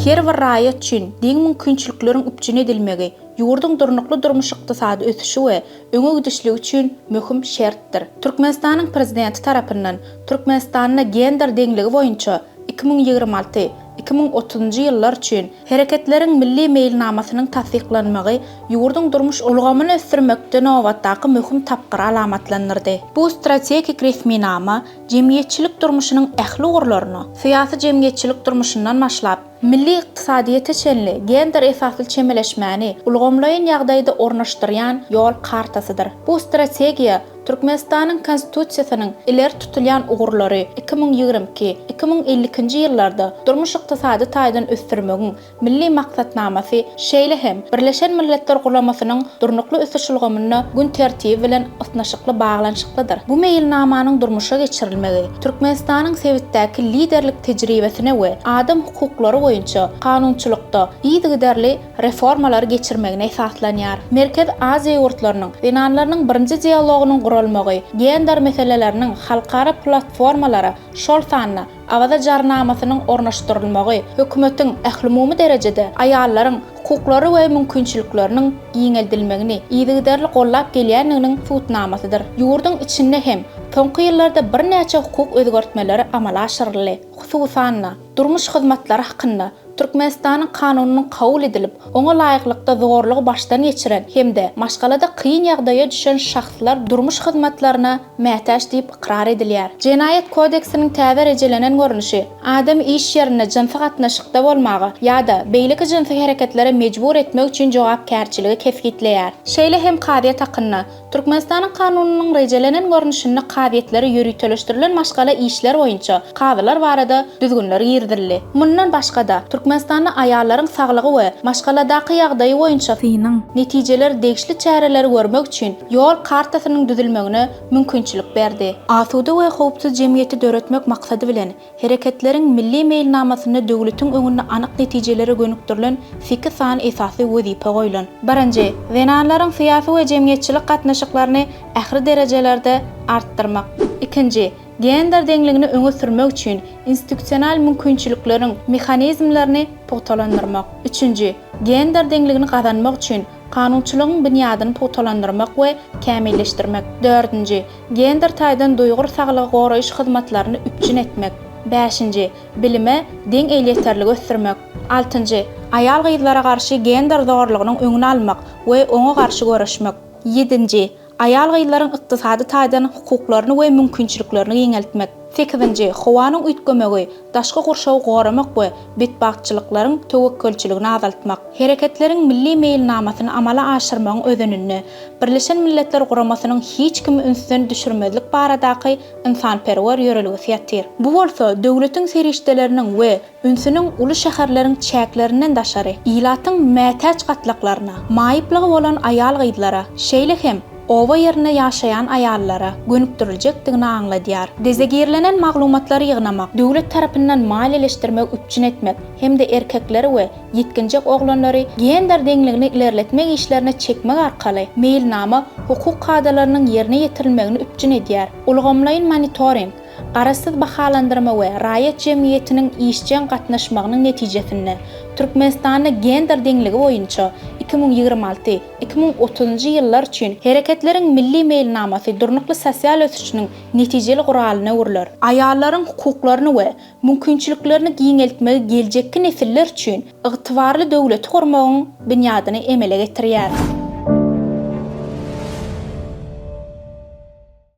Her bir raýat üçin deň mümkinçilikleriň üpjün edilmegi ýurduň durnukly durmuş-ykdysady ösüşi we öňe gidişligi üçin möhüm şertdir. Türkmenistanyň Prezidenti tarapyndan Türkmenistanda gender deňligi boýunça iki müň ýigrimi alty Iki müň otuzynjy ýyllar üçin Hereketleriň milli meýilnamasynyň tassyklanmagy ýurduň durmuş ulgamyny ösdürmekde nobatdaky möhüm tapgyry alamatlandyrdy. Bu strategik resminama jemgyýetçilik durmuşynyň ähli ugurlaryna, syýasy-jemgyýetçilik durmuşyndan başlap, milli ykdysadyýete çenli gender esasly çemeleşmäni ulgamlaýyn ýagdaýda ornaşdyrýan ýol kartasydyr. Bu strategiýa Türkmenistanyň Konstitusiýasynyň ileri tutulýan ugurlary iki müň ýigrimi iki, iki müň elli ikinji ýyllarda durmuş-ykdysady taýdan ösdürmegiň Milli maksatnamasy, şeýle hem Birleşen Milletler Guramasynyň Durnukly ösüş ulgamynda gün tertibi bilen ysnyşykly baglanyşyklydyr. Bu meýilnamanyň durmuşa geçirilmegi Türkmenistanyň sebitdäki liderlik tejribesine we adam hukuklary boýunça kanunçylykda yzygiderli reformalary geçirmegine esaslanýar. Merkezi Aziýa ýurtlarynyň zenanlarynyň birinji dialogynyň guralmagy gender meseleleriniň halkara platformalara, şol sanda Awaza jarnamasynyň ornaşdyrylmagy hökümetiň ählumumy derejede aýallaryň hukuklary we mümkinçilikleriniň giňeldilmegini yzygiderli gollap gelýändiginiň subutnamasydyr. Ýurduň içinde hem soňky ýyllarda birnäçe hukuk özgertmeleri amala aşyryldy. Hususan-da. Durmuş hyzmatlary hakynda Türkmenistanyň Kanunynyň kabul edilip, oňa laýyklykda zorlugy başdan geçiren hem-de maşgalada kyn ýagdaýa düşen şahslar durmuş hyzmatlaryna mätäç diýip ykrar edilýär. Jenaýat kodeksiniň täze rejelenen görnüşi, adamy iş ýerinde jynsy gatnaşykda bolmaga ýa-da beýleki jynsy hereketlere mejbur etmek üçin jogapkärçiligi kesgitleýär. Şeýle hem kazyýet hakynda Türkmenistanyň Kanunynyň rejelenen görnüşinde kazyýetlere ýöriteleşdirilen maşgala işleri boýunça kazylar barada düzgünler girizildi. Mundan başga-da, Türkmenistanda aýallaryň saglygy we maşgaladaky ýagdaýy boýunça synyň netijeleri degişli çäreleri görmek üçin ýol kartasynyň düzülmegine mümkinçilik berdi. Asuda we howpsuz jemgyýeti döretmek maksady bilen, Hereketleriň milli meýilnamasynda döwletiň öňünde anyk netijelere gönükdirilen seki sany esasy wezipe goýlan. Birinji, zenanlaryň syýasy we jemgyýetçilik gatnaşyklaryny ähli derejelerde artdyrmak. Ikinji, gender deňligini öňe sürmek üçin institusional mümkinçilikleriň mehanizmlerini pugtalandyrmak. Üçünji, gender deňligini gazanmak üçin kanunçylygyň binýadyny pugtalandyrmak we kämilleşdirmek. Dördünji, Gender taýdan duýgur saglygy goraýyş hyzmatlaryny üpjün etmek. Bäşinji, bilime deň elýeterligi ösdürmek. Altynjy, aýal-gyzlara garşy gender zorlugynyň öňüni almak we oňa garşy göreşmek. Ýedinji, aýal-gyzlaryň ykdysady taýdan hukuklaryny we mümkinçiliklerini giňeltmek. Sekizinji, howanyň üýtgemegi, daşky gurşawy goramak we betbagtçylyklaryň töwekgelçiligini azaltmak. Hereketleriň milli meýilnamasyny amala aşyrmagyň özeninde Birleşen Milletler Guramasynyň hiç kimi ünsden düşürmezlik baradaky ynsanperwer ýörelgesi ýatyr. Bu bolsa döwletiň serişdeleriniň we ünsüniň uly şäherleriň çäklerinden daşary, ilatyň mätäç gatlaklaryna, maýyplygy bolan aýal-gyzlara, şeýle hem oba ýerinde ýaşaýan aýallara gönükdiriljekdigini aňladýar. Dezegirlenen maglumatlary ýygnamak, döwlet tarapyndan maliýeleşdirmegi üpjün etmek hem-de erkekleri we ýetginjek oglanlary gender deňligini ilerletmek işlerine çekmek arkaly meýilnama hukuk kadalarynyň ýerine ýetirilmegini üpjün edýär. Ulgamlaýyn monitoring, garaşsyz bahalandyrma we raýat jemgyýetiniň işjeň gatnaşmagynyň netijesinde, Türkmenistanda gender deňligi boýunça iki müň ýigrimi alty, iki müň otuzynjy ýyllar üçin Hereketleriň milli meýilnamasy durnukly sosial ösüşiniň netijeli guralyna öwrüler. Aýallaryň hukuklaryny we mümkinçiliklerini giňeltmegi geljekki nesiller üçin ygtybarly döwleti gurmagyň binýadyny emele getirýär.